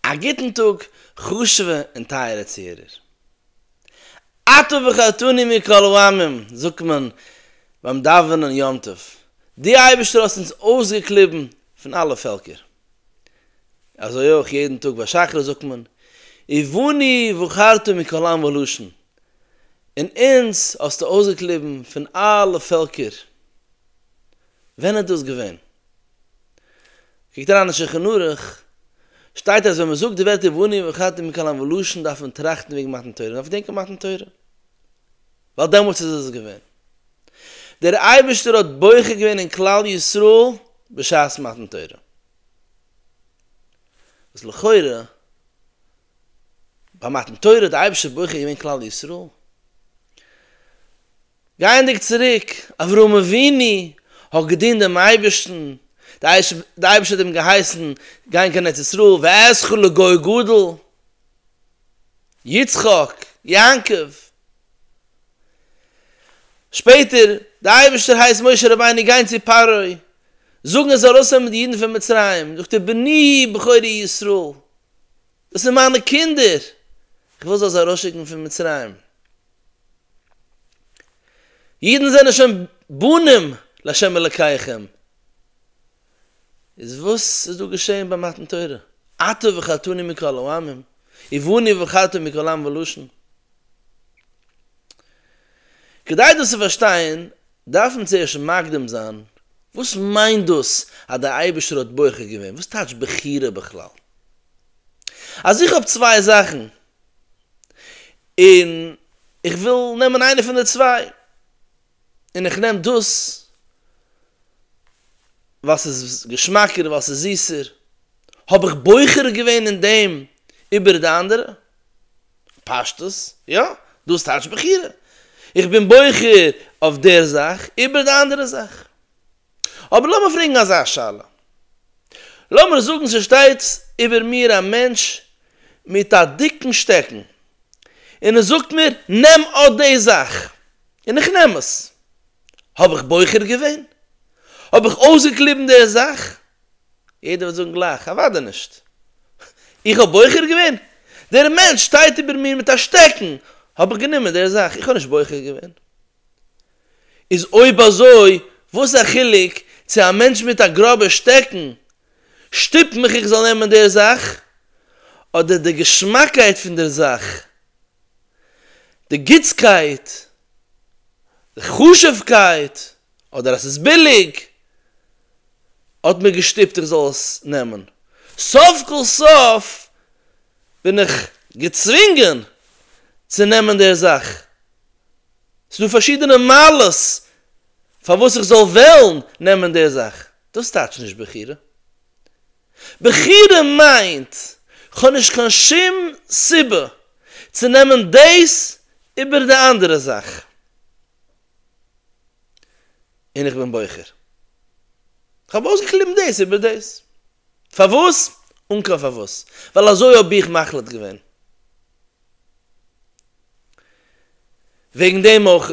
א גוטן טאג חשוב'ע און טייערע צוהערער. אתה בחרתני מכל העמים זאגט מען ביים דאווענען יום טוב. דו אייבערשטער האסט אונז אויסגעקליבן פון אלע פעלקער. אזוי אויך יעדן טאג ביי שחרית זאגט מען ובני בחרת מכל עם ולשון, און אונז האסטו אויסגעקליבן פון אלע פעלקער. ווען איז דאס געווען? קוקט אריין אין שולחן ערוך, שטייט אז ווען מען זאגט די ווערטער ואני ואכלתי מקל אן ולשון דארף מען טראכטן וועגן מתן תורה, מען דארף געדענקען מתן תורה, ווייל דעמאלטס איז עס געווען. דער אייבערשטער האט בוחר געווען אין כלל ישראל בשעת מתן תורה. וואס לכאורה ביי מתן תורה האט די אייבערשטער בוחר געווען כלל ישראל. גייענדיג צוריק, אברהם אבינו האט געדינט דעם אייבערשטן, די אייבערשטער האט אים געהייסן גיין קיין ארץ ישראל, ואעשך לגוי גדול, יצחק, יעקב, שפעטער, די אייבערשטער הייסט משה רבינו גיין צו פרעה, זאגן ער זאל ארויסנעמען די אידן פון מצרים, זאגט ער בני בכורי ישראל, דאס איז מיינע קינדער, איך וויל זיי ארויסשיקן פון מצרים. אידן זענען שוין בנים לה' אלקיכם, איז וואס איז דא געשעהן ביי מתן תורה? אתה וחתני מכל העמים, ובני ובכרתי מכל עם ולשון? כדי דאס צו פארשטיין דארף מען צוערשט מקדים זיין וואס מיינט דאס אז דער אייבערשטער האט בוחר געווען, וואס טייטש בחירה בכלל? אז איך האב צוויי זאכן, און איך וויל נעמען איינע פון די צוויי, און איך נעם דאס ווייל ס'איז געשמאקער, ווייל ס'איז זיסער, האב איך בוחר געווען אין דעם איבער די אנדערע? פשטות, יא, דאס טייטש בחירה. איך בין בוחר אויף דער זאך איבער די אנדערע זאך. אבער לאמיר פרעגן אזא שאלה, לאמיר זאגן ס'שטייט איבער מיר א מענטש מיט א דיקן שטעקן און ער זאגט מיר נעם אט די זאך, און איך נעם עס, האב איך בוחר געווען? האב איך אויסגעקליבן די זאך? יעדער וועט זאגן גלייך, אוודאי נישט, איך האב בוחר געווען? דער מענטש שטייט איבער מיר מיט א שטעקן, האב איך גענומען די זאך, איך האב נישט בוחר געווען. איז אויב אזוי וואס א חילוק צו א מענטש מיט א גראבע שטעקן שטופט מיך איך זאל נעמען דער זאך אדער די געשמאקייט פון דער זאך, די גוטסקייט, די חשובקייט, אדער אז ס'איז ביליג האט מיר געשטופט איך זאל עס נעמען, סוף כל סוף בין איך געצווינגען צו נעמען דער זאך. ס'דא פארשידענע מעלות פארוואס איך זאל וועלן נעמען די זאך, דאס טייטשט נישט בחירה. בחירה מיינט כ'האב נישט קיין שום סיבה צו נעמען דאס איבער די אנדערע זאך, און איך בין בוחר. כ'האב אויסגעקליבן דאס איבער דאס. פארוואס? אן קיין פארוואס. ווייל אזוי האב איך מחליט געווען. וועגן דעם אויך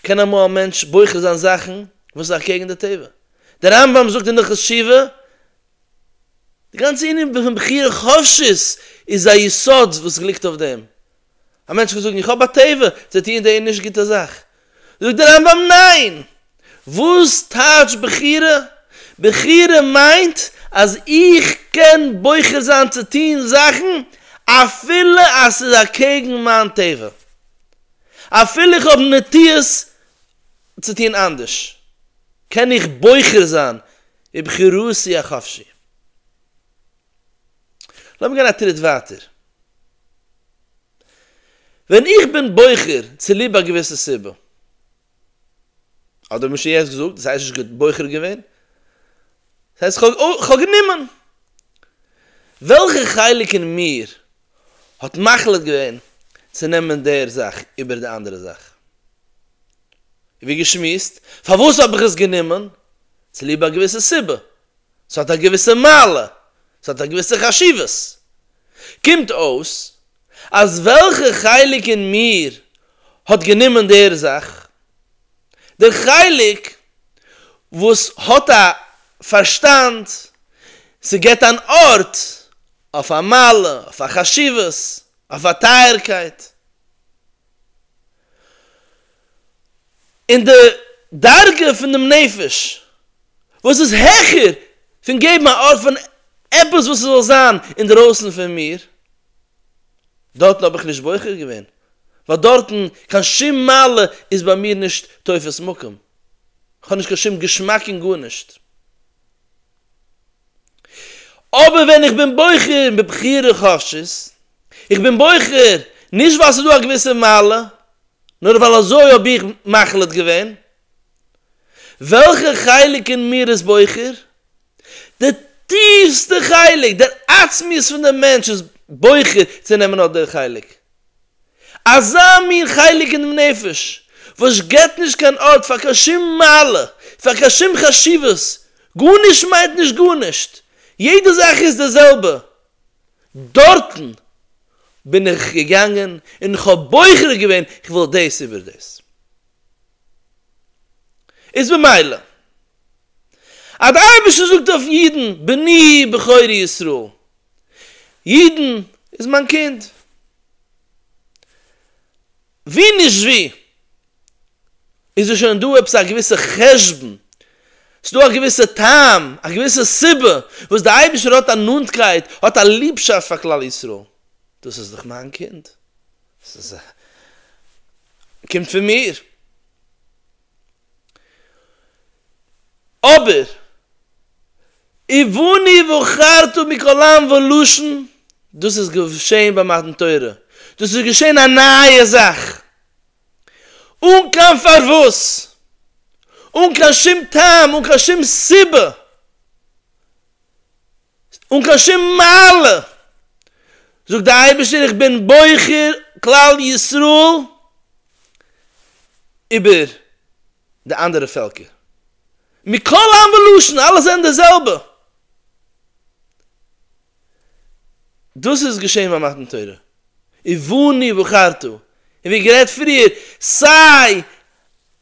קען אמאל א מענטש בוחר זיין זאכן וואס איז אקעגן די טבע. דער רמב ם זאגט אין הלכות תשובה, די גאנצע ענין פון בחירה חופשית איז א יסוד וואס ליגט אויף דעם. א מענטש קען זאגן איך האב א תיבה צו טוען די נישט גוטע זאך. זאגט דער רמב ם ניין! וואס טייטש בחירה? בחירה מיינט אז איך קען בוחר זיין צו טוען זאכן אפילו אז ס'איז אקעגן מיין טבע. אפילו איך האב נטיות צו טוען אנדערש, קען איך בוחר זיין בבחירתי החפשי. לאמיר גיין א טריט ווייטער. ווען איך בין בוחר צוליב א געוויסע סיבה, אדער משה'ס געזאגט, דאס הייסט נישט בוחר געווען, דאס הייסט כ'האב גענומען. וועלכע חלק אין מיר האט מחליט געווען צו נעמען דער זאך איבער די אנדערע זאך? ווי געשמועסט, פארוואס האב איך עס גענומען? צוליב א געוויסע סיבה, ס'האט א געוויסע מעלה, ס'האט א געוויסע חשיבות. קומט אויס אז וועלכע חלק אין מיר האט גענומען דער זאך? דער חלק וואס האט א פארשטאנד, ס'געט אן ארט אויף א מעלה, אויף א חשיבות, אויף א טייערקייט. און די דרגה פון דעם נפש וואס איז העכער פון געבן א ארט פאר עפעס וואס ס'זאל זיין אינדרויסן פון מיר, דארטן האב איך נישט בוחר געווען, ווייל דארטן קיין שום מעלה איז ביי מיר נישט תופס מקום, כ'האב נישט קיין שום געשמאק אין גארנישט. אבער ווען איך בין בוחר בבחירה חשית, איך בין בוחר נישט ווייל ס'איז דא א געוויסע מעלה, נאר ווייל אזוי האב איך מחליט געווען, וועלכע חלק אין מיר איז בוחר? די טיפסטע חלק, דער עצמיות פון דעם מענטש איז בוחר צו נעמען אט דער חלק, אזא מין חלק אינעם נפש וואס געבט נישט קיין ארט פאר קיין שום מעלה, פאר קיין שום חשיבות, גארנישט מיינט נישט גארנישט, יעדע זאך איז די זעלבע, דארטן בין איך געגאנגען און איך האב בוחר געווען איך וויל דאס איבער דאס. איז ממילא אז די אייבערשטער זאגט אויף אידן בני בכורי ישראל אידן איז מיין קינד. ווי נישט ווי איז דא שוין דא עפעס א געוויסע חשבון, ס'דא א געוויסע טעם, א געוויסע סיבה וואס דער אייבערשטער האט א נאנטקייט, האט א ליבשאפט פאר כלל ישראל. דאס איז דאך מיין קינד. ס'קומט פון מיר. אבער ובני ובחרתו מכל עם ולשון, דאס איז געשען ביי מתן תורה, דאס איז געשען א נייע זאך, אן קיין פארוואס, אן קיין שום טעם, אן קיין שום סיבה. אן קיין שום מעלה, זאגט דער אייבערשטער איך בין בוחר כלל ישראל איבער די אנדערע פעלקער, מכל עם ולשון אלע זענען די זעלבע, דאס איז געשען ביי מתן תורה, ובני בחרתו, און ווי גערעדט פריער סיי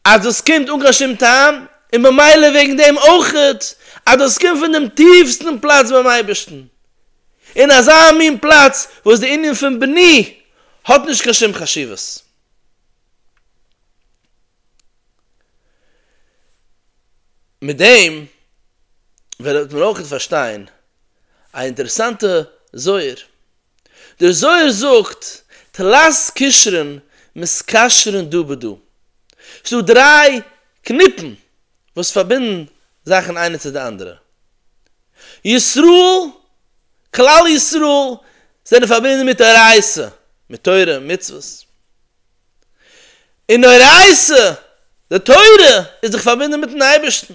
אז דאס קומט אן קיין שום טעם, און במילא וועגן דעם אויכעט אז דאס קומט פון דעם טיפסטן פלאץ ביים אייבערשטן, אין אזא מין פלאץ וואס די ענין פון בני האט נישט קיין שום חשיבות. מיט דעם וועט מען אויכעט פארשטיין א אינטערעסאנטע זוהר דער זוהר זאגט, תלת קשרין מסקשרין דא בדא, ס'איז דא דריי קניפן וואס פארבינדן זאכן איינע צו די אנדערע. ישראל, כלל ישראל, זענען פארבינדן מיט אורייתא, מיט תורה, מצוות. און נוראיסע, די תורה איז דאך פארבינדן מיטן אייבערשטן,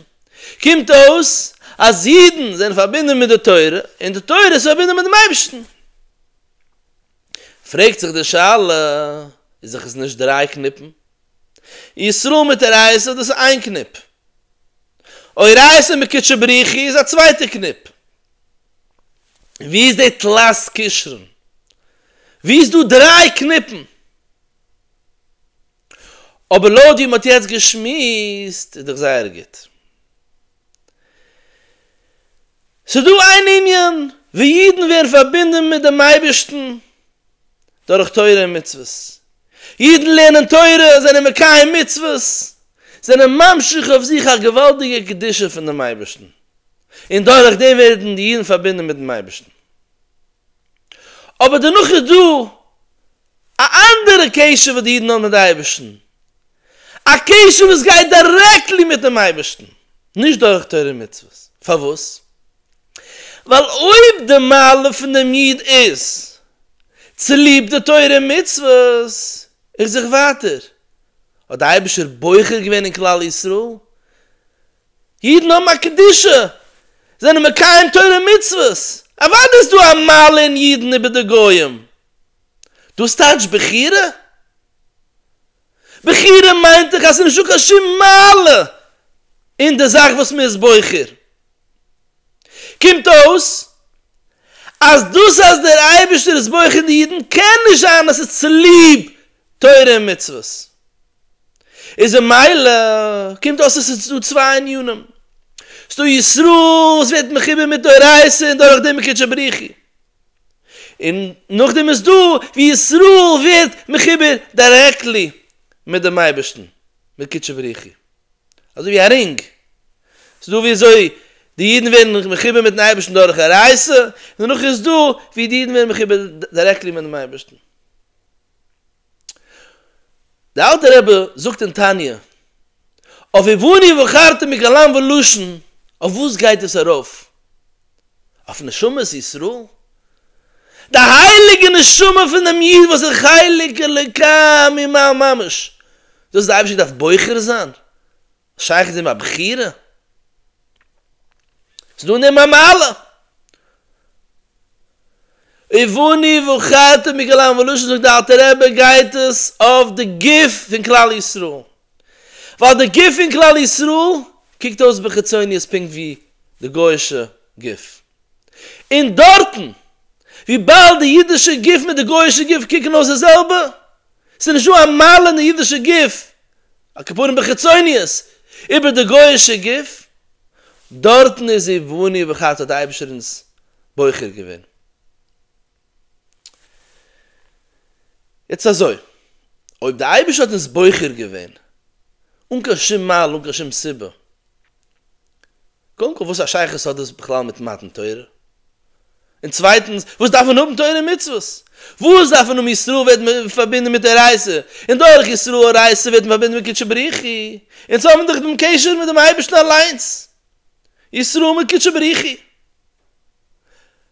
קומט אויס אז אידן זענען פארבינדן מיט די תורה און די תורה איז פארבינדן מיט דעם אייבערשטן. פרעגט זיך די שאלה, איז דאך עס נישט דריי קניפן? ישראל מיט אורייתא דאס איז איין קניפ, אורייתא מיט קודשא בריך הוא איז א צווייטע קניפ, ווי איז די תלת קשרן? ווי איז דא דריי קניפן. אבער לויט ווי מ'האט יעצט געשמועסט איז דאך זייער גוט. ס'איז דא איין ענין ווי אידן ווערן פארבינדן מיט דעם אייבערשטן דורך תורה און מצוות. אידן לערנען תורה, זענען מקיים מצוות, זענען ממשיך אויף זיך א געוואלדיגע קדושה פון דעם אייבערשטן, און דורכדעם ווערן די אידן פארבינדן מיט'ן אייבערשטן. אבער דערנאך איז דא א אנדערע קשר וואס די אידן האבן מיט די אייבערשטן, א קשר וואס גייט דירעקטלי מיט'ן אייבערשטן, נישט דורך תורה און מצוות, פארוואס? ווייל אויב די מעלה פון דעם איד איז צוליב די תורה און מצוות, איך זיך ווייטער, האט די אייבערשטער בוחר געווען אין כלל ישראל, אידן האבן א קדושה, זענען מקיים תורה און מצוות, אוודאי איז דא א מעלה אין אידן איבער די גוים. דאס טייטש בחירה? בחירה מיינט דאך אז ס'איז נישטא קיין שום מעלה אין די זאך וואס מ'איז בוחר. קומט אויס אז דאס אז דער אייבערשטער איז בוחן די אידן קען נישט זיין אז ס'איז צוליב תורה און מצוות, איז ממילא קומט אויס אז ס'איז דא צוויי ענינים, ס'איז דא ישראל וואס ווערט מחובר מיט אורייתא און דורך דעם מקדשי בריחי, און נאכדעם איז דא ווי ישראל ווערט מחובר דירעקטלי מיט דעם אייבערשטן מקדשי בריחי. אזוי ווי א רינג, ס'איז דא ווי אזוי די אידן ווערן מחובר מיטן אייבערשטן דורך עריות, און דערנאך איז דא ווי די אידן ווערן מחובר דירעקטלי מיטן אייבערשטן. דער אלטער רבי זאגט אין תניא, אויף ובני ובחרתו מקלם ולשון, אויף וואס גייט עס ארויף? אויף נשמת ישראל, די הייליגע נשמה פון דעם איד וואס איז חלק אלוקי ממעל ממש, דאס איז די אייבערשטער דארף בוחר זיין, שייך איז אים א בחירה, ס'איז דא אין דעם א מעלה, ובני ובכרתי מכל העם, וואלוזשין זאגט די אלטע רבי גייט עס אויף די גוף פון כלל ישראל, ווייל די גוף פון כלל ישראל קוקט אויס בחיצוניות פונקט ווי די גוי'אישע גוף, און דארטן וויבאלד די אידישע גוף מיט די גוי'אישע גוף קוקן אויס די זעלבע, ס'נישט דא א מעלה אין די אידישע גוף, על כפארן בחיצוניות, איבער די גוי'אישע גוף, דארטן איז ווי בוני ובחרת האט די אייבישטער אונז בוחר געווען. יעצט אזוי, אויב די אייבערשטער האט אונז בוחר געווען אן קיין שום מעלה אן קיין שום סיבה, קודם כל וואס א שייכות האט דאס בכלל מיט מתן תורה? און צווייטענס וואס דארף מען האבן תורה און מצוות? וואס דארף מען האבן ישראל ווערט פארבינדען מיט אורייתא, און דורך ישראל אורייתא ווערט מען פארבינדען מיט קודשא בריחי, אונז האבן דאך דעם קשר מיט דעם אייבערשטן אליינס, ישראל מיט קודשא בריחי.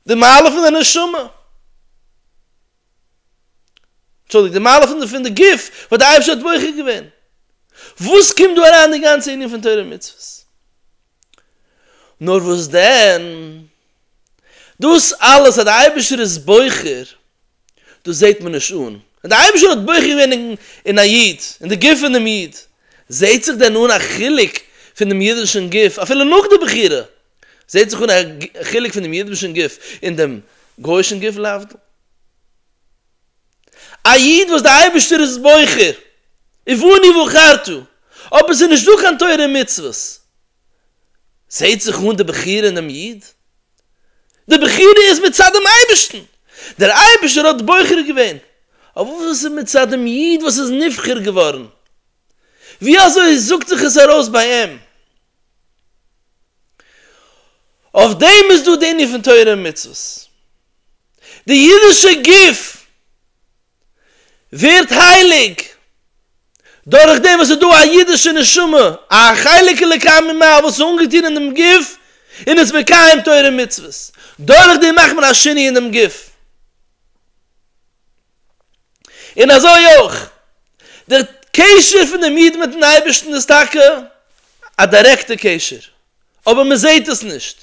די מעלה פון די נשמה, אנטשולדיגט, די מעלה פון די גוף, וואס די אייבערשטער האט בוחר געווען. וואס קומט דא אריין די גאנצע ענין פון תורה ומצוות? נאר וואס דען, דאס אלעס אז די אייבערשטער איז בוחר, דאס זעט מען נישט אן. אז די אייבערשטער האט בוחר געווען אין א איד, אין די גוף פונעם איד, זעט זיך דען אן א חילוק פונעם אידישן גוף אפילו נאך די בחירה? זעט זיך אן א חילוק פון דעם אידבישן גוף און דעם גויאישן גוף להבדיל. א איד וואס דער אייבערשטער איז בוחר, ובני בחרתו, אבער עס איז נישט דא קיין תורה און מצוות, זעט זיך אן די בחירה אין דעם איד? די בחירה איז מצד דעם אייבערשטן! דער אייבערשטער האט בוחר געווען, אבער וואס איז מצד דעם איד וואס איז נבחר געווארן? ווי אזוי זאגט זיך עס ארויס ביי אים? אויף דעם איז דא די ענין פון תורה און מצוות. די אידישע גוף ווערט הייליג דורך דעם וואס ס'איז דא א אידישע נשמה, א חלק אלוקי ממעל וואס איז אנגעטון אין דעם גוף און איז מקיים תורה און מצוות. דורך דעם מאכט מען א שינוי אין דעם גוף. און אזוי אויך דער קשר פונעם איד מיטן אייבערשטן איז טאקע א דירעקטע קשר אבער מען זעט עס נישט,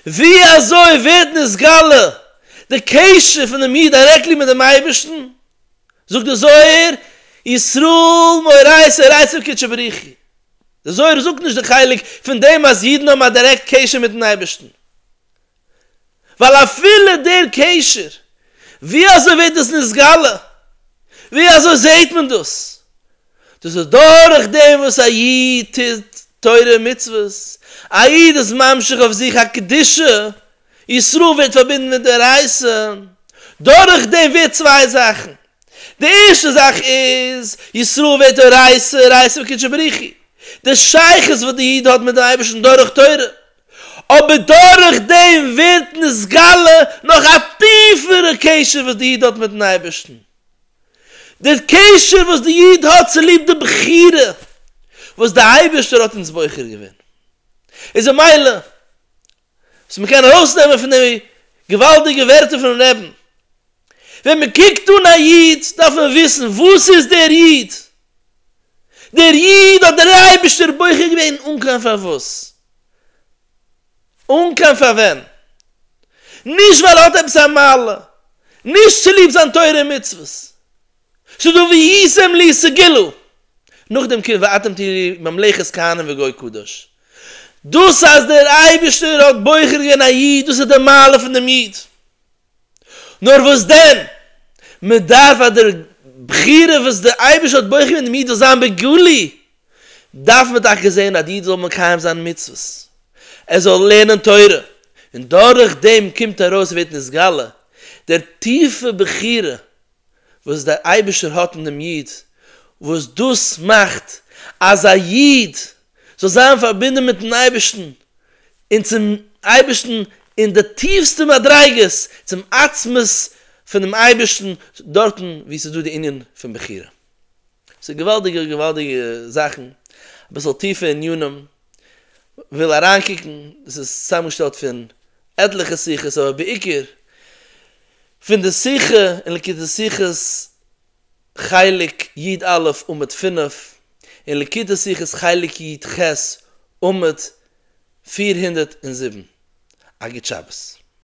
ווי אזוי ווערט נתגלה די קשר פונעם איד דירעקטלי מיט דעם אייבערשטן? זאגט דער זוהר ישראל מוראי סערייתא קודשא בריך הוא, דער זוהר זאגט נישט די חלק פון דעם אז אידן האבן א דירעקט קשר מיטן אייבערשטן, ווייל אפילו דער קשר, ווי אזוי ווערט דאס נתגלה, ווי אזוי זעט מען דאס, דאס איז דורך דעם וואס א איד טוט תורה און מצוות, א איד איז ממשיך אויף זיך א קדושה, ישראל ווערט פארבינדן מיט דער רייסען, דורך דעם ווערט צוויי זאכן, די ערשטע זאך איז, ישראל ווערט אן רייסער, רייסער מקודשא בריך הוא, די שייכות וואס די איד האט מיט דעם אייבערשטן דורך תורה, אבער דורך דעם ווערט נתגלה נאך א טיפערע קשר וואס די איד האט מיטן אייבערשטן, דער קשר וואס די איד האט צוליב די בחירה וואס די אייבערשטער האט אונז בוחר געווען, איז ממילא וואס מען קען ארויסנעמען פון די געוואלדיגע ווערטער פונעם רבי'ן, ווען מען קוקט אן א איד דארף מען וויסן וואס איז דער איד דער איד האט דער אייבערשטער בוחר געווען אן קיין פארוואס, אן קיין פארווען, נישט ווייל ער האט עפעס א מעלה, נישט צוליב זיין תורה און מצוות, ס'דא וישם לי סגילו, נאכדעם קומט ואתם תהיו לי ממלכת כהנים וגוי קדוש, דאס אז דער אייבערשטער האט בוחר געווען א איד דאס איז די מעלה פון דעם איד. נאר וואס דען, מען דארף אז דער בחירה וואס דער אייבערשטער האט בוחר געווען דעם איד זאל זיין בגלוי, דארף מען טאקע זען אז די איד זאל מקיים זיין מצוות, ער זאל לערנען תורה, און דורך דעם קומט ארויס און ווערט נתגלה דער טיפע בחירה וואס דער אייבערשטער האט אין דעם איד, וואס דאס מאכט אז א איד זאל זיין פארבינדן מיט'ן אייבערשטן און צום אייבערשטן אין די טיפסטע מדריגות, צום עצמות פונעם אייבערשטן, דארטן וואו ס'איז דא די ענין פון בחירה. ס'איז געוואלדיגע געוואלדיגע זאכן, אביסל טיפע ענינים, וויל אריינקוקן, דאס איז צוזאמגעשטעלט פון עטליכע שיחות אבער בעיקר פון די שיחה אין ליקוטי שיחות חלק יד א' עמוד פֿינף, און לקוטי שיחות חלק יד ח' עמוד פֿיר הונדערט און זיבן, א גוט שבת.